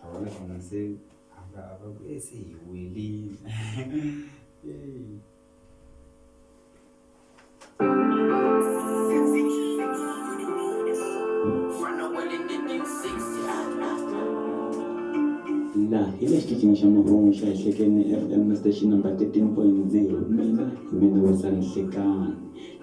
a vona ku munhu se a nga a va ku e se hi welile laha hi le xitichini xa mahungu xa ehlekeni fm station number 13.0 mina hi mina wisa nhlekani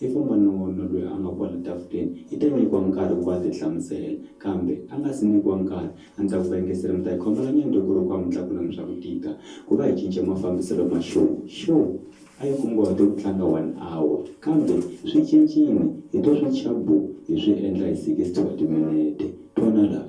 I ku n'wana wa wena loyi a nga kwala tafuleni i ta nyikiwa nkarhi ku va a ti hlamusela, kambe a nga si nyikiwa nkarhi a ni ta ku va yingisela mi ta hi khomela nyana loko ku ri ku a mi tlakulanga swa ku tika ku va hi cince mafambiselo ma show. Show a yi kunguhate ku tlanga one hour kambe swi cincile hi to swi chabu hi swi endla hi sixty wa timinete twana laha.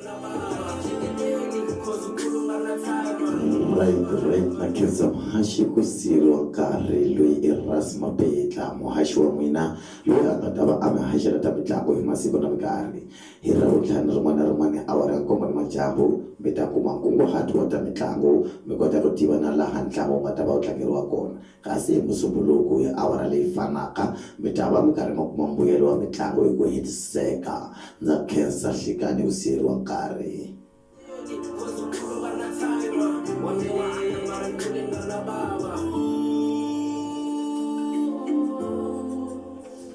Right right na khensa muhaxi ku siyeriwa nkarhi loyi i Rhasi Mabetla muhaxi wa n'wina loyi a nga ta va a mi haxela ta mitlangu hi masiku na minkarhi hi ravuntlhanu rin'wana na rin'wana awara ya nkombo ni madyambu mi ta kuma nkunguhato wa ta mitlangu mi kota ku tiva na laha ntlangu wu nga ta va wu tlangeriwa kona Kasi hi Musumbhunuku hi awara leyi fanaka, mi ta va mi karhi mi kuma mbuyelo wa mitlangu hi ku hetiseka. Ndza khensa, Nhlikani u siyeriwa nkarhi.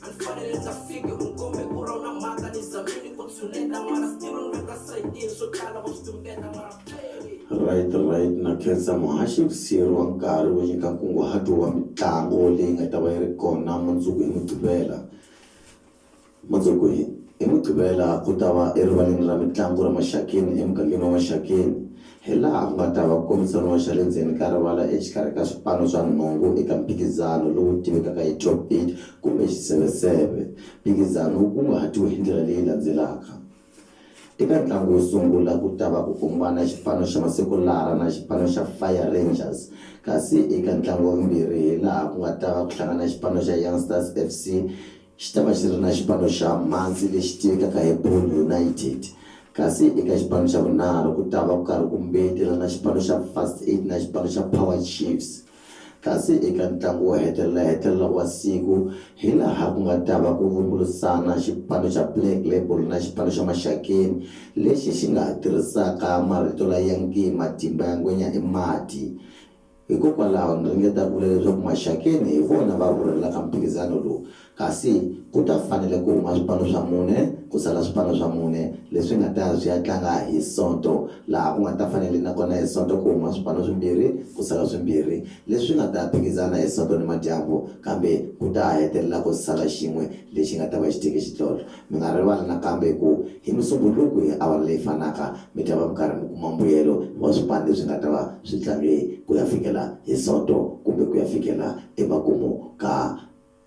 andifanele ndza fike unkombe ku ra u na mhaka ni zamini ku tshuneta mara still ni veka sayitini swo tala wa swi tumbeta mara Right, right. Na khensa muhaxi hi ku siyeriwa nkarhi wo nyika nkunguhato wa mitlango leyi nga ta va yi ri kona mundzuku hi Mugqivela. Mundzuku hi hi Mugqivela ku ta va erivaleni ra mitlangu ra Maxakeni emugangeni wa Maxakeni. hilaha ku nga ta va ku kombisaniwa xa le ndzeni ka rivala exikarhi ka swipano swa nhungu eka mphikizano lowu tivekaka hi Top Beat kumbe Xiseveseve. Mphikizano wu kunguhatiwe hi ndlela leyi landzelaka, Eka ntlangu wo sungula ku ta va ku kumbana xipano xa Masekulara na xipano xa Fire Rangers kasi eka ntlangu wa vumbirhi hilaha ku nga ta va ku hlangana xipano xa Youngstars FC Xi ta va xi ri na xipano xa Muncie lexi tivekaka hi Boone United, kasi eka xipano xa vunharhu ku ta va ku karhi ku mbeyetela na xipano xa First Aid na xipano xa Power Chiefs, kasi eka ntlangu wo hetelela-hetelela wa siku hi laha ku nga ta va ku vumbulusana xipano xa Black Label na xipano xa Maxakeni lexi xi nga ha tirhisaka marito la ya nge Matimba ya ngwenya i mati. Hikokwalaho ni ringeta ku vula leswaku Maxakeni hi vona va rhurhelaka mphikizano lowu, kasi ku ta fanele ku huma swipano swa mune ku sala swipano swa mune leswi nga ta ya swi ya tlanga hi Sonto, laha ku nga ta fanele na kona hi Sonto ku huma swipano swimbirhi ku sala swimbirhi leswi nga ta ya phikizana hi Sonto nimadyambu kambe ku ta ha hetelela ku sala xin'we lexi nga ta va xi teke xidlodlo. Mi nga rivali nakambe ku hi Musumbhunuku hi awara leyi fanaka mi ta va mi karhi mi kuma mbuyelo wa swipani leswi nga ta va swi tlange ku ya fikela hi Sonto kumbe ku ya fikela emakumu ka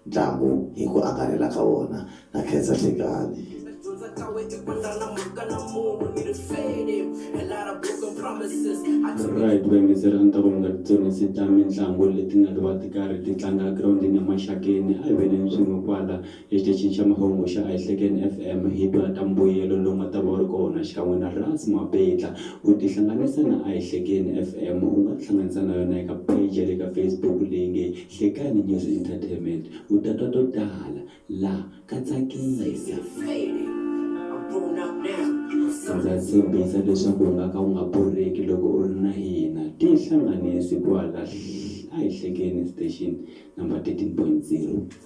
ntlangu hi ku angarhela ka wona. Na khensa Thekani. Mina dyondza ka we i ku nga na mhaka na munhu ni ri feni a lot of broken promises I took it. Right, ku yingisela a ni ta ku mi nga titsonisi ta mintlangu leti nga ta va ti karhi ti tlanga girawundini ya Maxakeni a hi veleni swin'we kwala. Exitichini xa mahungu xa Ayihlekeni FM hi twa ta mbuyelo lowu nga ta va wu ri kona xikan'we na Rats Mapetla. Ku tihlanganisa na Ayihlekeni FM u nga tihlanganisa na yona eka page ya le ka Facebook leyi nge Hlekani News Entertainment u ta twa to tala la ka tsakisa. Ndza tshembisa leswaku u nga ka u nga borheki loko u ri na hina. Tihlanganisi kwala Ayihlekeni station number 13.0.